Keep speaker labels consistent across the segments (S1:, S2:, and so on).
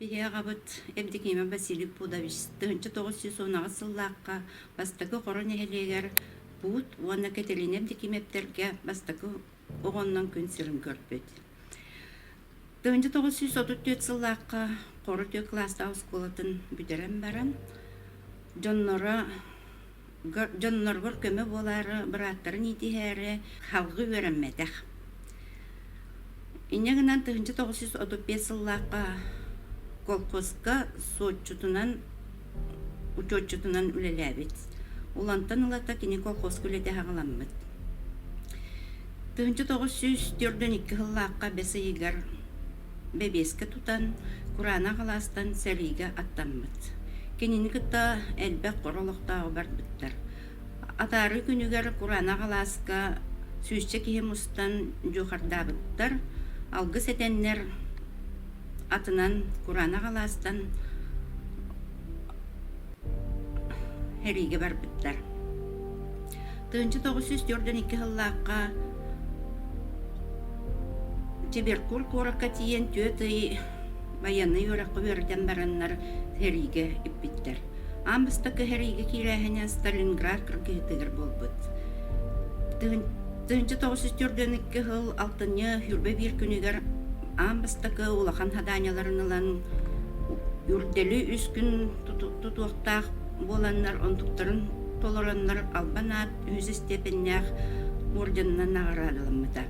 S1: Биһи аҕабыт Евдокима Васильев Пудович тыһынча тоҕус сүүс уонаҕыс сыллаахха бастакы Хоро нэһилиэгэр Пуут уонна Кэтилиина Евдокимовтэргэ бастакы оҕоннон күн сирин көрбүт. Тыһыынча тоҕус сүүс отут түөрт сыллаахха Хоро Түө кылаастаах оскуолатын бүтэрэн баран, дьонноро дьонноргор көмө буолаары бырааттарын иитиһээри халҕы үөрэммэтэх. Инньэ гынан тыһыынча тоҕус сүүс отут биэс сыллаахха колхозка суотчутунан учуотчутунан үлэлээбит. Улантан ылата кини колхозка үлэтэ хаҥаламмыт. Тыһынча тоҕус сүүс төрдөн икки сыллаахха бэс ыйыгар бэбиэскэ тутан, кураанах алаастан сэриигэ аттаммыт. Кинини кытта элбэх хоро олохтооҕу барбыттар. Атаарыы күнүгэр кураанах алааска сүүсчэ киһи мустан дьуохардаабыттар, алгыс этэннэр атынан кураанах алаастан эриигэ барбыттар. Тыынча тоғыз сүүс төрдөн икки сыллаахха Тиберкур куоракка тиийэн түөрт ый байанный үрэххэ үөрдэн бараннар эриигэ иппиттэр. Аан бастакы эриигэ киирээһинэ Сталинград кыргыһытыгар буолбут. Тыынча тоғыз сүүс төрдөн икки сыл алтынньы Хюрбэ биир күнүгэр аан бастакы улахан хадааньаларын ылан үрдэли үс күн тутуохтаах буоланнар онтуктарын толороннор албан аат үһүс истиэпэннээх орденынан наҕараадаламмыта.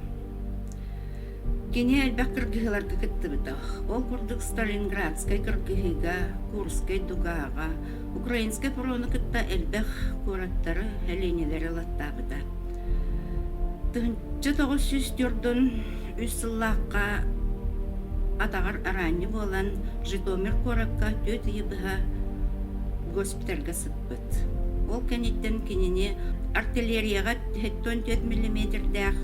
S1: Кини элбэх кыргыһыларга кыттыбыта. Ол курдук Сталинградскай кыргыһыыга, Курскай дугаага, Украинскай фрону кытта элбэх куораттары, элиэнэлэри ылаттаабыта. Тыһынча тоҕус сүүс үс сыллаахха атаҕар араанньы буолан Житомир куоракка түөрт ыйы быһа госпитальга сыппыт. Ол кэнниттэн кинини артиллерияҕа 74 миллиметрдээх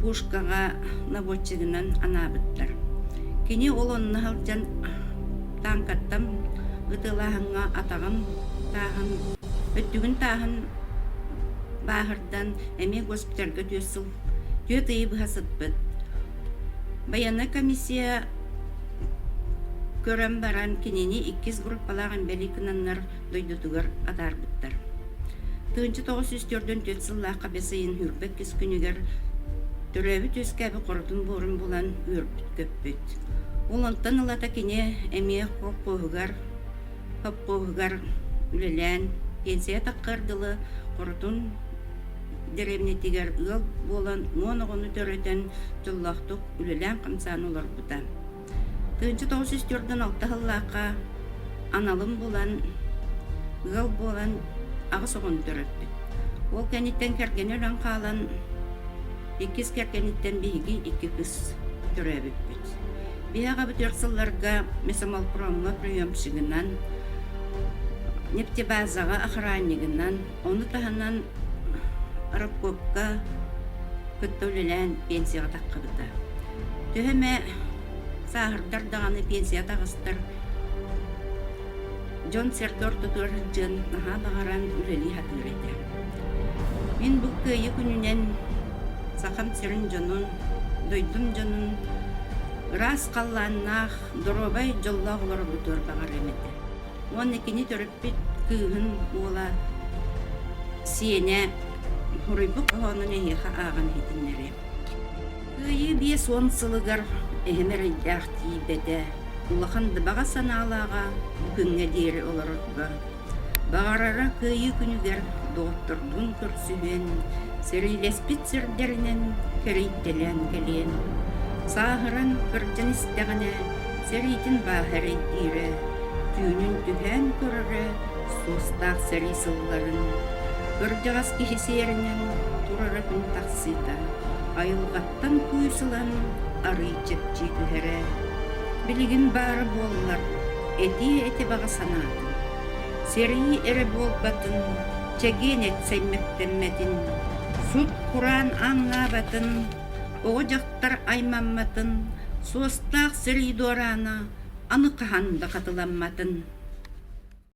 S1: пушкаҕа наводчигынан анаабыттар. Кини ол онно сылдьан танкаттан ытылааһыҥҥа атаҕын тааһын, өттүгүн тааһын бааһырдан эмиэ госпитальга түөрт сыл Түөрт ыйы быһа сыппыт. Байыаннай комиссия көрөн баран кинини иккис группалаах имбэлий кынаннар дойдутугар атаарбыттар. Тыынча тоҕус сүүс төрдөн түөрт сыллаахха бэс ыйын хүрбэт кис күнүгэр төрөөбүт үөскээбит хоротун буорун булан үөрбүт көппүт. Ол онтон ылата кини эмиэ хоппуоһугар хоппуоһугар үлэлээн пенсия таххар дылы хоротун Дэрэмньэтигэр ыал буолан уон оҕону төрөтөн, дьоллоохтук үлэлээн-хамсаан олорбута. Тыынча тоҕус үс төрдүн алта сыллаахха аналын булан, ыал буолан аҕыс оҕону төрөппүт. Ол кэнниттэн кэргэнэ өлөн хаалан, иккис кэргэниттэн биһиги икки кыс төрөөбүппүт. Биһи аҕа бүтүөх сылларга Мясомолпромҥа приемщигынан, нефтебазаҕа охраннигынан, Ону таһынан рабкопка кытта үлэлээн пенсияҕа таххабыта. Төһө эмэ сааһырдар даҕаны пенсия таҕыстар, дьон сэргэ ортотугар сылдьан наһаа баҕаран үлэлии сатыыр этэ. Мин бу кыайыы күнүнэн сахам сирин дьонун, дойдум дьонун ыраас халлааннаах, доруобай дьоллоох олоробутугар баҕарыам этэ. Уонна кини төрөппүт кыыһын уола сиэнэ хоруйбут хоһоонун эһиэхэ ааҕан иһитиннэриэм. Кыайыы биэс уон сылыгар эһэм эрэйдээх тиийбэтэ, улахан дыбаҕа санаалааҕа бу күҥҥэ диэри олорорго. Баҕарара кыайыы күнүгэр доҕотторбун көрсүһэн, сэриилэспит сирдэринэн кэрийтэлээн кэлиэн. Сааһыран кырдьан истэҕинэ, Сэриитин бааһа эрэйдиирэ, түүнүн түһээн көрөрө суостаах сэрии сылларын, кырдьаҕас киһи сиэринэн турара күн тахсыыта айылҕаттан күүс ылан арыый чэпчии түһэрэ. Билигин баара буоллар этиэ эти баҕа санаатын, сэрии эрэ буолбатын, чэгиэн эт саймэктэммэтин, сут кураан ааҥнаабатын, оҕо дьахтар Ааптар аймаммытын, суостаах сырыы дуораана аны хаһан да хатыламматын.